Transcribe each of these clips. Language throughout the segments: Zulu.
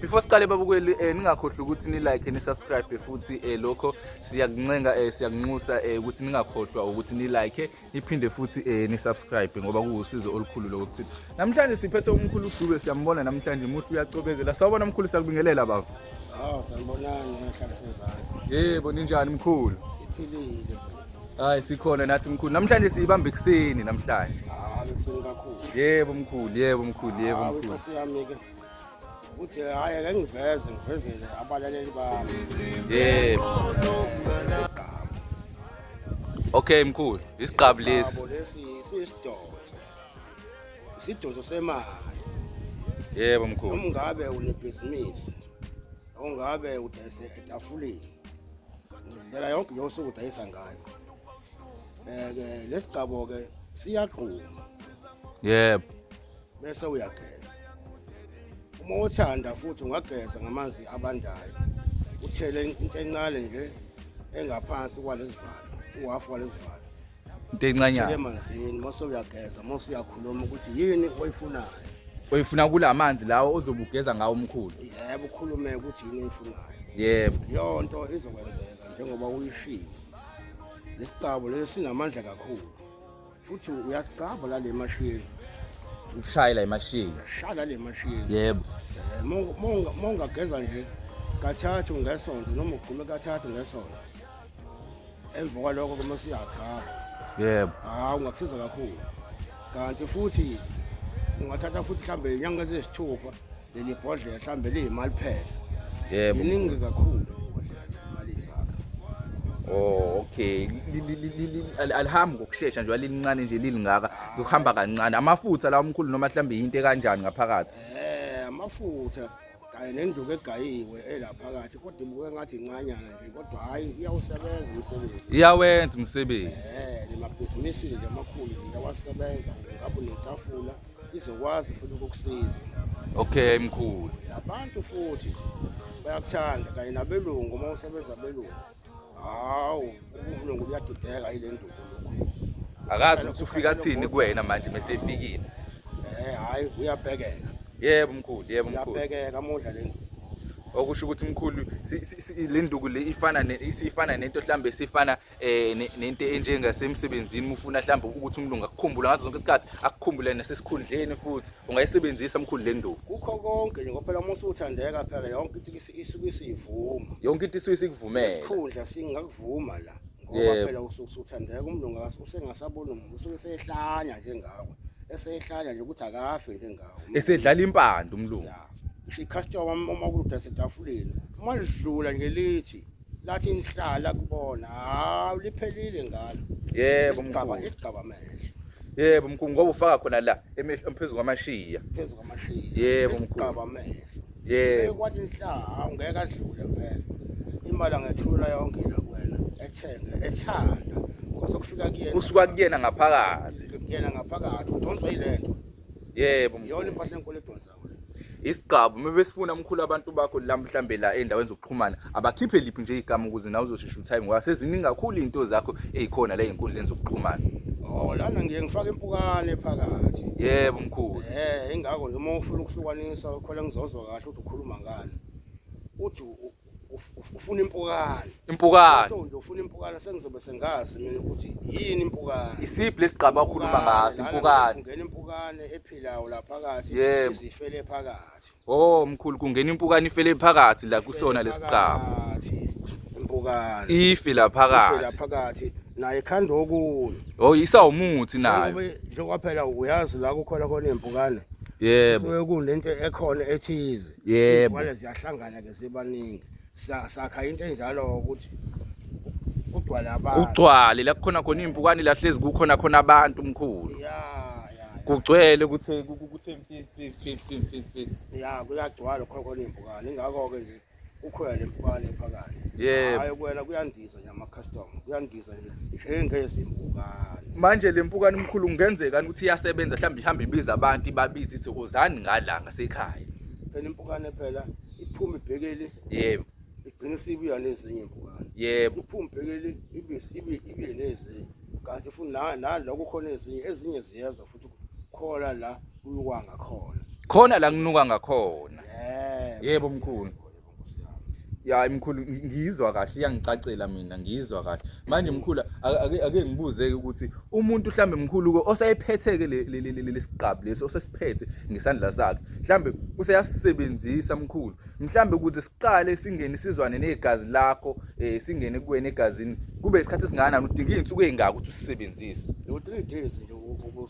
before siqale babukweli um eh, ningakhohlwa ukuthi nilike nisubscribe futhi um lokho siyakuncenga um siyakunxusa um ukuthi ningakhohlwa ukuthi nilike niphinde futhi um nisubscribe ngoba kuwusizo olukhulu loko kuthina namhlanje siphethe umkhulu udube siyambona namhlanje muhle uyacobezela sawubona mkhulu siyakubingelela baba Oh, sanibonani nahlala sezansi. Yebo, ninjani mkhulu? Siphilile. Hayi sikhona nathi mkhulu. Namhlanje siyibamba ekuseni namhlanje. Hayi ekuseni kakhulu. Yebo mkhulu, yebo mkhulu, yebo mkhulu. Hayi inkosi yami ke. uthi hhayi ake ngiveze ngivezele abalaleli bami yebo okay mkhulu isiqabu lesi Yabo, lesi siyisidonso isidonso semali yebo mkhulu noma ungabe unebhizinisi noma ungabe udayise etafuleni ndlela yonke yosuku udayisa ngayo um-ke lesi gqabo-ke siyagquma yebo bese uyageza uma uthanda futhi ungageza ngamanzi abandayo uthele into encane nje engaphansi kwalesivalo uhafu walesivalo into encanyana emanzini mase uyageza mase uyakhuluma ukuthi yini oyifunayo oyifuna kula manzi lawo ozobugeza ngawo umkhulu yebo ukhulume ukuthi yini oyifunayo yebo leyo nto izokwenzeka njengoba uyishilo lesiqabo lesi sinamandla kakhulu futhi uyaqaba la le mashini ushaye la imashini shaya la le mashini yebo Eh, monga- monga- mongageza nje kathathu ngesonto noma ugqume kathathu ngesonto emva kwalokho kuma usuyaqaba yebo hawu ungakusiza kakhulu kanti futhi ungathatha futhi mhlawumbe inyanga eziyisithupha leli bhodlela mhlawumbe liyimali phela yebo iningi kakhulu imali ingaka Oh okay alihambi ngokusheshsha nje alilincane nje lilingaka kuhamba kancane amafutha la umkhulu noma mhlambe into kanjani ngaphakathi eh amafutha kanye nenduku egayiwe elaphakathi kodwa ibuke ngathi incanyana nje kodwa hayi iyawusebenza umsebenzi iyawenza umsebenzi eh lemabhizinisi nje amakhulu iyawasebenza ngabe netafula izokwazi futhi ukukusiza okay mkhulu abantu futhi bayakuthanda kanye nabelungu uma usebenza abelungu hawu ubulungu buyadideka yile nduku akazi ukuthi ufika athini kuwena manje mesefikile eh hayi uyabhekeka yebo mkhulu yebo mkhulu uyabhekeka amodla le nduku okusho ukuthi mkhulu le nduku le ifana isifana nento mhlambe sifana eh nento enjengasemsebenzini uma ufuna mhlawumbe ukuthi umlungu akukhumbule ngazo zonke isikhathi akukhumbule nasesikhundleni futhi ungayisebenzisa mkhulu le nduku kukho konke nje ngophela uma usuthandeka phela yonke into isuke isivuma yonke into isuke isikuvumela isikhundla singakuvuma la ngoba phela usuke usuthandeka umlungu usengasabona umuntu usuke esehlanya njengawe esehlanya nje ukuthi akafe njengawe esedlala impande umlungu isho icustomer uma kuludase etafuleni uma lidlula ngelithi lathi nihlala kubona hawu liphelile ngalo yebo mgcaba mkhulu isigcaba mehlo yebo mkhulu ngoba ufaka khona la emehlo phezulu kwamashiya phezu kwamashiya Yebo, mkhulu. isigcaba mehlo yebo kwathi nihlala ngeke adlule phela imali angethula yonke la kuwena ethenge ethanda kwasokufika kuyena kusuka kuyena ngaphakathi kuyena ngaphakathi udonswa yilento yebo mkhulu. yona impahla enkulu edonsa isigqabu uma besifuna mkhulu abantu bakho la mhlambe la endaweni zokuxhumana abakhiphe liphi nje igama ukuze nawe uzoshesha utime ngoba seziningi kakhulu izinto zakho ezikhona la ezinkundleni zokuxhumana oh lana ngiye ngifake impukane phakathi yebo mkhulu eh ingakho noma ufuna ukuhlukanisa ukhole ngizozwa kahle ukuthi ukhuluma ngani uthi ufuna impukane impukane nje ufuna impukane sengizobe sengazi mina ukuthi yini impukane isiphi lesigqaba okhuluma ngaso impukane ungena impukane ephilayo la phakathi izifele phakathi oh mkhulu kungena impukane ifele phakathi la kusona lesigqaba impukane ife la phakathi la phakathi naye khanda okunye oh isawumuthi nayo njengoba phela uyazi la kukhona khona impukane yebo so kunento ekhona ethize yebo wale ziyahlangana ke sebaningi sakha into enjalo ukuthi kugcwala abantu kugcwale la kukhona khona impukane lahlezi kukhona khona abantu mkhulu kugcwele ukuthi ukuthi ya kuyagcwala khona khona impukane ingakho ke nje ukhona lempukane phakathi yebo hayi kuwena kuyandisa nama customer kuyandiza njengezimbuka manje le mpukane mkhulu kungenzeka ukuthi iyasebenza mhlawumbe ihambe ibiza abantu ibabiza ithi uzani ngala ngasekhaya phela impukane phela iphuma ibhekele yebo igcina isibuya nezinye impukane yebo iphuma ibhekele ibisi ibe ibe nezinye kanti futhi na naloko khona ezinye ezinye ziyezwa futhi khona la kuyukwa ngakhona khona la kunuka ngakhona yebo mkhulu ya mkhulu ngiyizwa kahle iyangicacela mina ngiyizwa kahle manje mkhulu ake ake ngibuze ukuthi umuntu mhlambe mkhulu ke osayephetheke lesiqabu lesi osesiphethe ngesandla sakhe mhlambe useyasisebenzisa mkhulu mhlambe ukuthi siqale singene sizwane negazi lakho eh singene kuwena egazini kube isikhathi singanani udinga izinsuku ezingaka ukuthi usisebenzise lo 3 days nje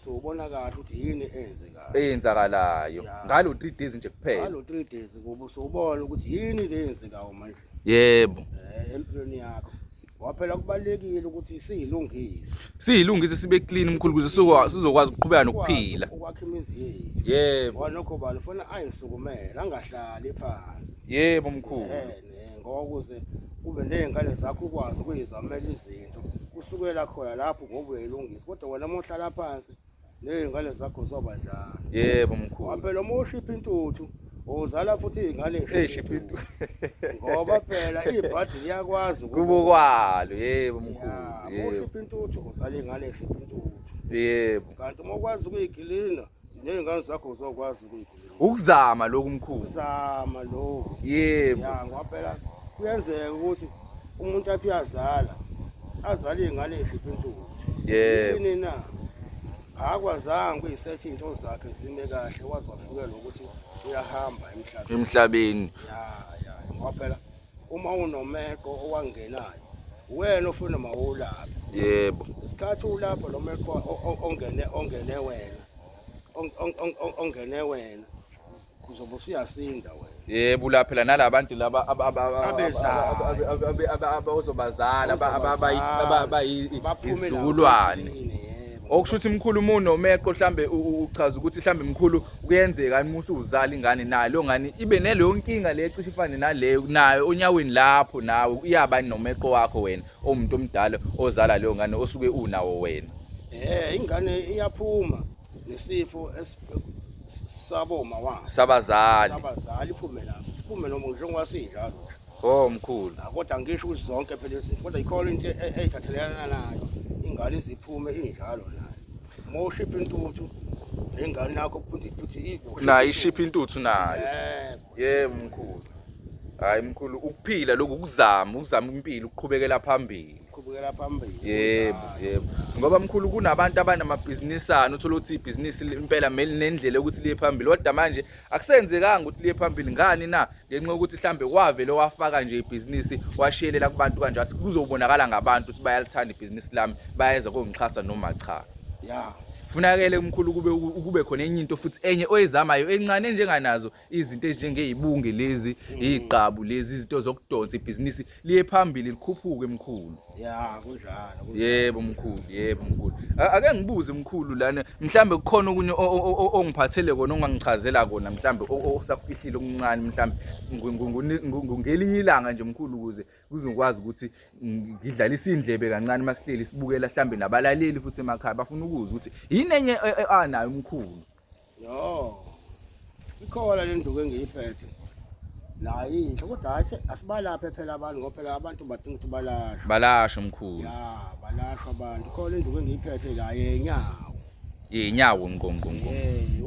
ubona kahle ukuthi yini enze eyenzakalayo ngalo 3 days nje kuphela ngalo 3 days kuba usubona ukuthi yini le yenzekayo manje yebo eh, empilweni yakho waphela kubalekile ukuthi siyilungise siyilungise sibe clean mkhulu kuze sizokwazi ukuqhubeka nokuphila ukwakha imizi yethu yebo wanokho bani ufuna ayisukumele angahlali phansi yebo mkhulu ngoba kuze kube nezingane zakho ukwazi ukuyizamela izinto kusukela khona lapho ngoba uyayilungisa kodwa wena mohlala phansi Nezingane zakho zoba njalo. Yebo mkhulu. Waphela uma ushipha intuthu uzala futhi izingane ezishipha intuthu. Ngoba phela ibhadi liyakwazi ukubukwalo yebo mkhulu. Yebo. Ushipha intuthu uzala izingane ezishipha intuthu. Yebo. Kanti uma ukwazi ukuyigilina nezingane zakho uzokwazi ukuyigilina. ukuzama lokhu mkhulu uzama lokhu yebo ya ngoba phela kuyenzeka ukuthi umuntu athi uyazala azale ingane eshipha intuthu yebo yini na akwazanga kuyisetha into zakhe zime kahle wazi wafikela ukuthi uyahamba emhlabeni emhlabeni ya ya ngoba phela uma unomeko owangenayo wena ofuna mawulapha yebo isikhathi ulapha lo meko o- o- ongene ongene wena ongene wena uzobe usuyasinda wena yebo ula phela nalaba bantu laba abazobazala abayizizukulwane okusho ukuthi mkhulu umuno umeqo mhlambe uchaza ukuthi mhlambe mkhulu kuyenzeka imusa uzala ingane nayo lo ngani ibe neleyo nkinga le cishe ifane naleyo nayo onyaweni lapho nawe uyabani nomeqo wakho wena omuntu omdala ozala leyo ngane osuke unawo wena eh ingane iyaphuma nesifo saboma wa sabazali sabazali iphume la siphume noma njengoba sinjalo oh mkhulu ah, kodwa ngisho ukuthi zonke phela izifo kodwa ikhona into e-, e-, eyithathelana nayo ingane iziphume injalo nayo moshipha intuthu nengane yakho futhi futhi ibo na ishipha intuthu nayo eh Yebo mkhulu. Hayi mkhulu ukuphila lokhu ukuzama ukuzama impilo ukuqhubekela phambili. Qhubekela phambili. Yebo, yebo. Ngoba mkhulu kunabantu abanamabhizinisana uthola ukuthi ibhizinisi impela meli nendlela ukuthi liye phambili. Kodwa manje akusenzekanga ukuthi liye phambili ngani na? Ngenxa yokuthi mhlambe kwavele wafaka nje ibhizinisi washiyelela kubantu kanje athi kuzobonakala ngabantu ukuthi bayalithanda ibhizinisi lami bayeza kongixhasa noma cha. Yeah. Funakele umkhulu kube ukube khona enye into futhi enye oyizamayo encane enjenganazo izinto ezinjengeyibunge lezi igqabu lezi izinto zokudonsa ibhizinisi liye phambili likhuphuke mkhulu. Yeah kunjalo. Yebo mkhulu, yebo mkhulu. Ake ngibuze mkhulu lana mhlambe kukhona okunye ongiphathele kona ongangichazela kona mhlambe osakufihlile okuncane mhlambe ngelinye ilanga nje mkhulu ukuze kuze ngikwazi ukuthi ngidlalise indlebe kancane masihleli sibukela mhlambe nabalaleli futhi emakhaya bafuna ukuzwa ukuthi yini enye e, e, anayo umkhulu yo ikhona le nduku engiyiphethe nayo inhle kodwa hayi asibalaphe phela abantu ngoba phela abantu badinga ukuthi balashwe balashwe mkhulu ya balashwe abantu khona induku engiyiphethe la yenyawo inyawo ngqo ngqo ngqo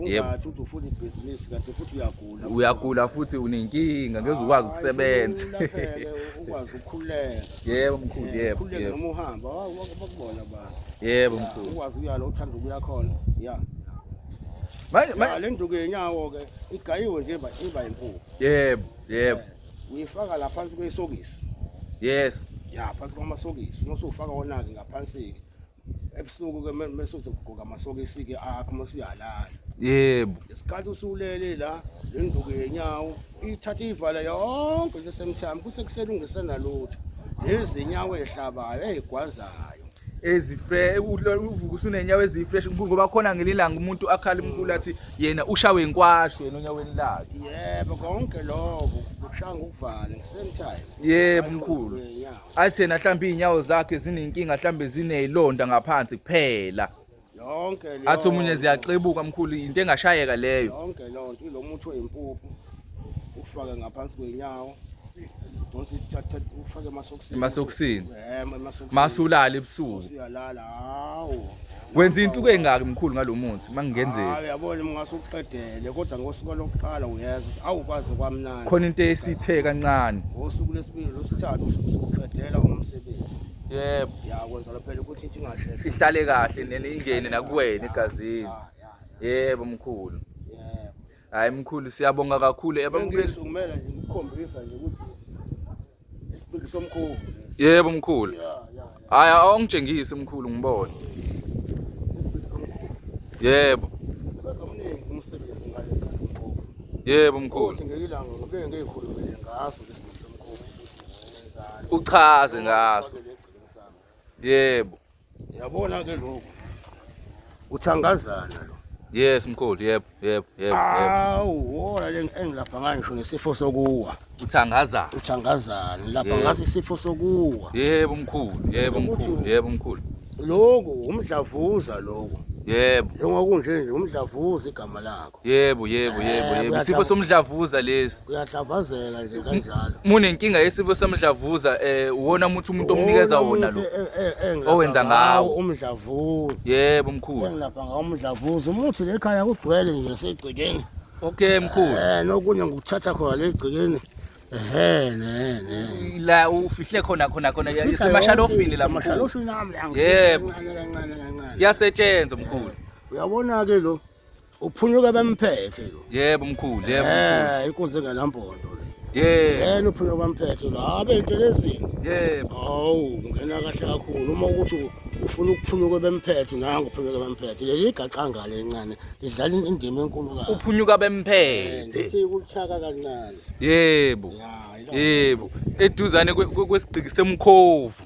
yebo futhi ufuna ibhizinisi kanti futhi uyagula uyagula futhi unenkinga ngeke ukwazi ukusebenza ukwazi ukukhuleka yebo mkhulu eh, yebo yebo uma uhamba bakubona abantu yebo mkhulu ukwazi uyala uthanda ukuya khona ya manje manje le nduku yenyawo ke igayiwe nje iba iba inkulu yebo yebo eh, uyifaka la phansi kwesokisi yes ya phansi kwamasokisi uma usufaka wona ke ngaphansi ke ebusuku ke mese uzogqoka amasokisi ke akho mase uyalala yebo isikhathi usulele la le nduku yenyawo ithatha ivala yonke nje semshami kusekuseni ungesena lutho nezinyawo ehlabayo ezigwazayo ezifresh uvuka usunenyawo ezifresh ngoba khona ngelilanga umuntu akhala umkulu athi yena ushawe inkwashu yena onyaweni lakhe yebo konke lokho kushaya ngokuvala ngisentime yebo mkhulu athi yena mhlawumbe iy'nyawo zakhe zinenkinga mhlawumbe ziney'londa ngaphansi kuphela yonke leyo athi omunye ziyaxebuka mkhulu yinto engashayeka leyo yonke leyo nto ilo muthi oyimpuphu ukufake ngaphansi kwey'nyawo donse uthathe ufake emasokisini emasokisini Eh, emasokisini. masulala ebusuku Usuyalala, hawu Wenza insuku engaki mkhulu ngalomuthi mangenzeki. Hayi yabona mngase uqedele kodwa ngosuku lokuqala uyezwa ukuthi awukwazi kwamnandi. Khona into esithe kancane. Ngosuku lesibili losithathu usuqedela umsebenzi. Yebo. Ya kwenza lo phela ukuthi into ingasheshe. Ihlale kahle nene ingene nakuwena egazini. Ah, Yebo mkhulu. Yebo. Hayi mkhulu siyabonga kakhulu. Yabona kumele ngikhombisa nje ukuthi somkhulu yebo mkhulu hhayi awungitshengise mkhulu ngibone yebo yebo mkhulu uchaze ngaso Yebo. Yabona ke lokho. Uthangazana lo. Yes mkhulu, yebo, yebo, yebo. Awu, wona le engilapha ngayo ngisho nesifo sokuwa. Uthangazana. Uthangazana, lapha ngaso isifo sokuwa. Yebo mkhulu, yebo mkhulu, yebo mkhulu. Lokho umdlavuza lokho. Yebo. Njengokunje nje umdlavuza igama lakho. Yebo, yebo, Eh, yebo, yebo. Isifo kuyadla- somdlavuza lesi. kuyadavazela nje kanjalo Munenkinga yesifo somdlavuza eh uwona muthi umuntu omunikeza wona lo. Owenza Owenza e, ngawo. umdlavuza Yebo mkhulu. engilapha ngawo umdlavuza umuthi lekhaya kugcwele nje segcekeni Okay mkhulu. um nokunye ngikuthatha khona le gcekeni ehe ne ne La ufihle khona khona khona Fika isemashalofini la yonke, mkhulu. isemashalofini ami la, Yebo. kancane kancane kancane Yasetshenzwa mkhulu. uyabona-ke lo uphunyuka bamphethe lo yebo mkhulu yebo eh inkunzi engenampondo le yebo yena uphunyuka bamphethe lo abe intelezini yebo awu ungena kahle kakhulu uma ukuthi ufuna ukuphunyuka bemphethe nangu uphunyuka bemphethe leli igaxanga lencane lidlala indima enkulu kakhulu uphunyuka bemphethe eh, sikuchaka kancane yebo yebo eduzane kwesigqiki semkhovu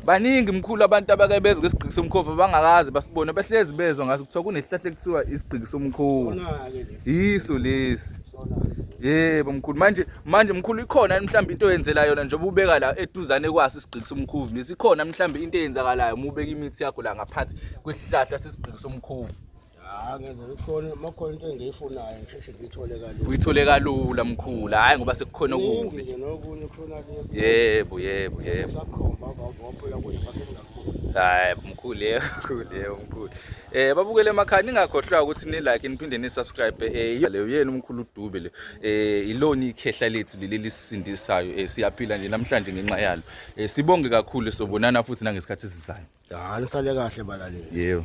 baningi mkhulu abantu abake bezwe isigqiki somkhovu bangakazi basibone bahlezi bezwa ngaso kuthiwa kunesihlahla ekuthiwa isigqiki somkhovu yiso lesi yebo mkhulu manje manje mkhulu ikhona mhlawumbe into oyenzela yona njengoba ubeka la eduzane kwasi isigqiki somkhovu lesi ikhona mhlawumbe into eyenzakalayo uma ubeka imithi yakho la ngaphansi kwesihlahla sesigqiki somkhovu Ah, ngeze ngikhona makhona into engiyifunayo ngisheshe ngiyithole kalula. Uyithole kalula mkhulu, hayi ngoba sekukhona okubi. Nje nokunye khona le. Yebo, yebo, yebo. Sakhomba bawaphula kuye basengakubuza. Hayi mkhulu yebo, mkhulu yebo, mkhulu. Eh babukele emakhaya ningakhohlwa ukuthi ni like niphinde ni subscribe eh leyo yena umkhulu Dube le. Eh ilona ikhehla lethu leli lisisindisayo eh siyaphila nje namhlanje ngenxa yalo. Eh sibonge kakhulu sobonana futhi nangesikhathi esizayo. Hayi sale kahle balaleli. Yebo.